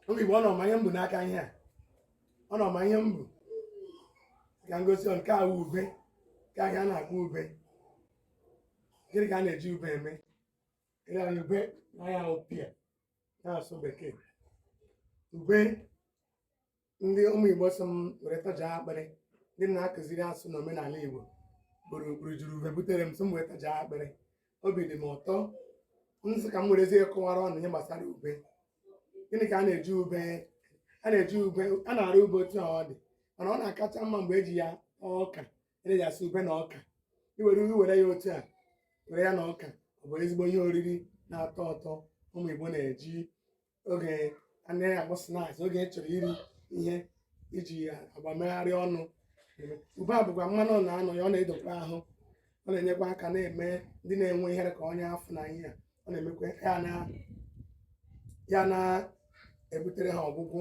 ụmụ igbo unu ma ihe m bu n'aka ihe a unu ma ihe m bu ka m gosi unu nke a bụ ube ka ihe a a na-akpọ ube gịnị ka a na-eji ube eme ịra ube na ya bụ pear n'asụsụ bekee ube ndị ụmụ Igbo sị m were tajaa akpịrị ndị na-akụziri asụsụ na omenala Igbo kporo juru ube butere m sị m were tajaa akpịrị obi dị m ụtọ m sị ka m werezie kọwaara unu ihe gbasara ube gịnị ka a na-eji ube a na-eji ube a na-ara ube otu a ọ dị mana ọ na-akacha mma mgbe e ji ya ọka e ji asị ube na ọka i were ube were ya otu a were ya na ọka ọ bụ ezigbo ihe oriri na-atọ ụtọ ụmụ Igbo na-eji oge a na-akpọ snacks oge ị chọrọ iri ihe iji agbamegharị ọnụ ube a bụkwa mmanụ na-anọ ya ọ na-edokwa ahụ ọ na-enyekwa aka na-eme ndị na-enwe ihe dị ka ọnya afọ na ihe a ọ na-emekwa ya na-ebutere ha ọgwụgwọ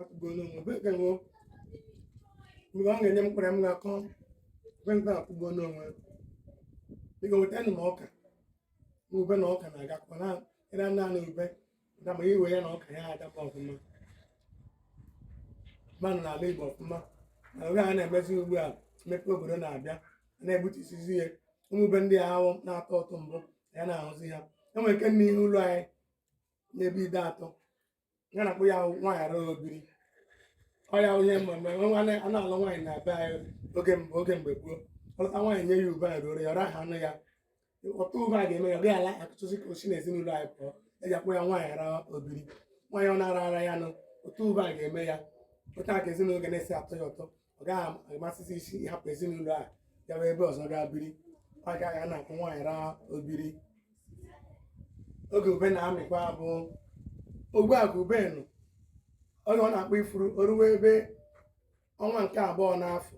akpụgo n'onwe ebe ka nwụọ mgbe ọ ga-enye m mkpụrụ m ga-akọ ube nke akpụgo n'onwe biko weta nụ m ọka ma ube na ọka na-agakọ na ịra naanị ube dị mma i we ya na ọka ya adaba ọfụma mmanụ n'ala Igbo ọfụma na oge a na-emezi ugbu a mmepe obodo na-abịa a na-egbutusizi ihe ụmụ ube ndị ahụ na-atọ ụtọ mbụ a naghị ahụzi ha e nwere nke n'ihu ụlọ anyị n'ebe Ideatọ ya a na-akpọ ya nwaanyị ara o biri ọ ya ihe mmemme a na-alụ nwaanyị na be anyị oge mgbe gboo a lụta nwaanyị nye ya ube a ruoro ya ọ rahaanụ ya otu ube a ga-eme ya ọ gaghị ala akụtụzi ka o si n'ezinụlọ anyị pụọ e ji akpọ ya nwaanyị ara o biri nwaanyị ọ na-ara ara ya nụ otu ube a ga-eme ya otu a ka ezinụlọ ga na-esi atọ ya ụtọ ọ gaghị amasịzi ya ịhapụ ezinụlọ a gawa ebe ọzọ gaa biri ọ ka e ji na-akpọ nwaanyị ara o biri oge ube na-amịkwa bụ oge a ka ube nọ oge ọ na-akpọ ifuru o ruwe ebe ọnwa nke abụọ n'afọ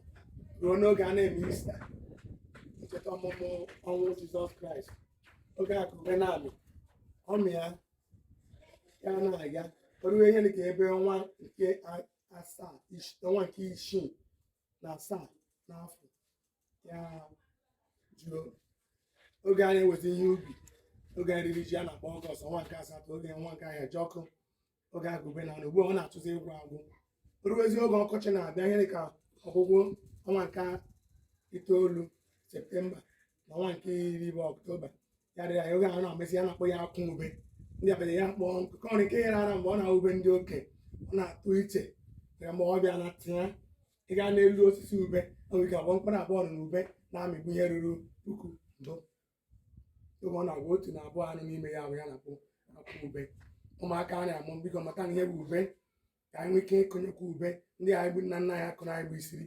ruo n'oge a na-eme ista ncheta ọmụmụ ọnwụ jizọs kraịst oge a ka ube na-amị ọ mịa ya na-aga o ruwe ihe dị ka ebe ọnwa nke a- asaa ish- ọnwa nke isii na asaa n'afọ ya eju oge a na-eweta ihe ubi oge iri ji a na-akpọ ọgọst ọnwa nke asatọ oge ọnwa nke ahịajiọkụ oge a ka ube na ugbu a ọ na-achọzi ịgwụ agwụ o ruwezi oge ọkọchị na-abịa ihe dịka ọgwụgwụ ọnwa nke itoolu septemba n'ọnwa nke iri bụ ọktoba ya dịrị anyị oge ahụ na-amịsị ya na-akpọ ya akwụ ube ndị abịa ya kpọọ nkụkọ ọrụ nke yere ara mgbe ọ na-awube ndị oke ọ na-atụ iche ya ma ọ bịa na tinye ị gaa n'elu osisi ube e nwere ike abụọ mkpụrụ abụọ na ube na-amịbu ihe ruru puku ndụ oge ọ na-agwa otu na abụọ anọ n'ime ya bụ ya na-akpọ akwụ ube ụmụaka a na-amụ biko matanụ ihe bụ ube ka anyị nwee ike ịkụnyekwa ube ndị anyị bụ nna nna anyị ha kụụrụ anyị bụ isiri